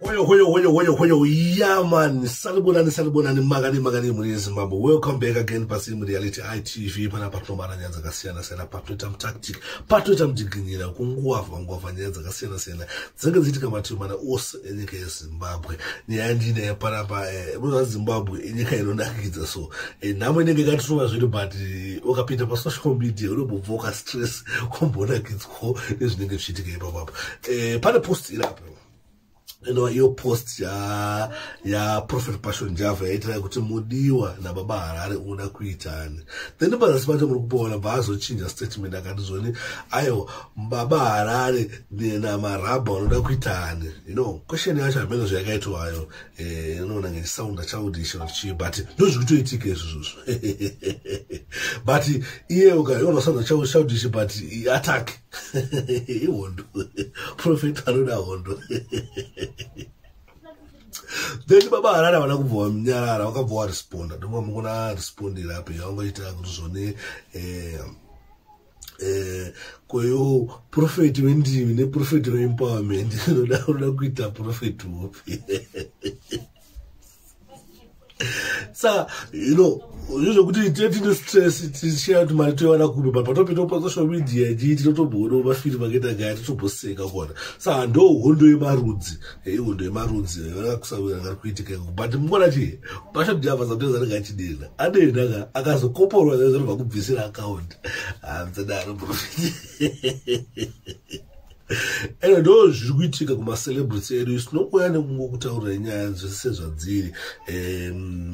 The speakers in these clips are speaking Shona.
Hoyo hoyo hoyo hoyo hoyo yeah man salibonani salibonani makani makani muri yezimbabwe welcome back again pasiri mureality itv pana patomara nyaya dzakasiyana siyana patoita mutactic patoita mudiginyira kunguwavha nguwavha nyaya dzakasiyana siyana dzinenge dziitika mativi mana ose enyika yezimbabwe nyaya ndii nyaya panapa eh, munoa zimbabwe inyika inonakidza so eh, nhamo inenge ikatituma zviri but eh, ukapinda pasocial media unobobva ukastress wambonakidzwawo nezvinenge zvichiitika ipapapa pane post irapo inova iyo post ya ya prophet passion java yaitira kuti mudiwa nababa harare unoda kuitani then pazasi pacho muri kupoona bva azochinja statement akati zvoni aiwa baba harare namarabha unoda kuitani you know question yacho hameno zvayakaitwayo eh, inoona nge sound childish or chii but ndozviri kutoitika izvozvozvo but iye ukaona sound childish but attack ihondo profet anoda hondo then baba harare havana kubva vanyarara vakabva varesponda ndova mukuna respondira apo yavangoita kuti zvone eh, eh, kweyo profeti wendimi neprofeti weempowerment unoda kuita profeti wopi saka you know zvo zvokuti tine stress tichaya kuti mari toiwana kupi but patopinda kupasocial media jii tinotomboona mafiri makaita gaya titomboseka kona saka ndo hondo yemarudzi eh, hondo yemarudzi akakusaanga eh, kuitika but mukona chii pashopi java samteza anenge achidena adena ka akazokoporwa zazvinobva kubvisira akaunti hamsadaro ah, ende ndo zviri kuitika kumacelebrity edu isinokuuya nekungo kutaurira nyaya dzese zvadziri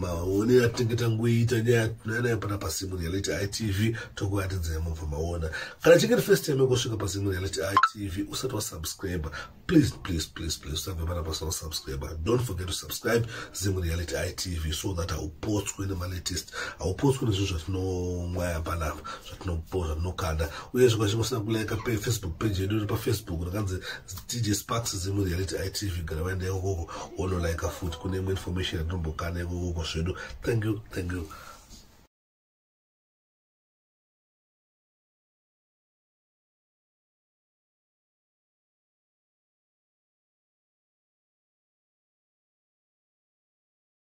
maone atinge tangoiita nyaya tunainayo pana pasimu reality itv tokuatidzai mubva maona kana chinge ri first time yekosvika pasimu reality itv usati wasubscribe please please please please usabve pana pasina kusubscribe don't forget to subscribe zimu reality itv so that haupotswe nemalatest haupotswe nezvinhu zvatinomwaya panapa tinobhora tinokanda uye zvimwe zvimwe usina kulaika pe facebook page yedu iri pafacebook rakanzi tj sparks zimu reality itv gara vaenda ikokoko wonolaika futi kune imwe information yatinombokana ikokoko zvedu thank you thank you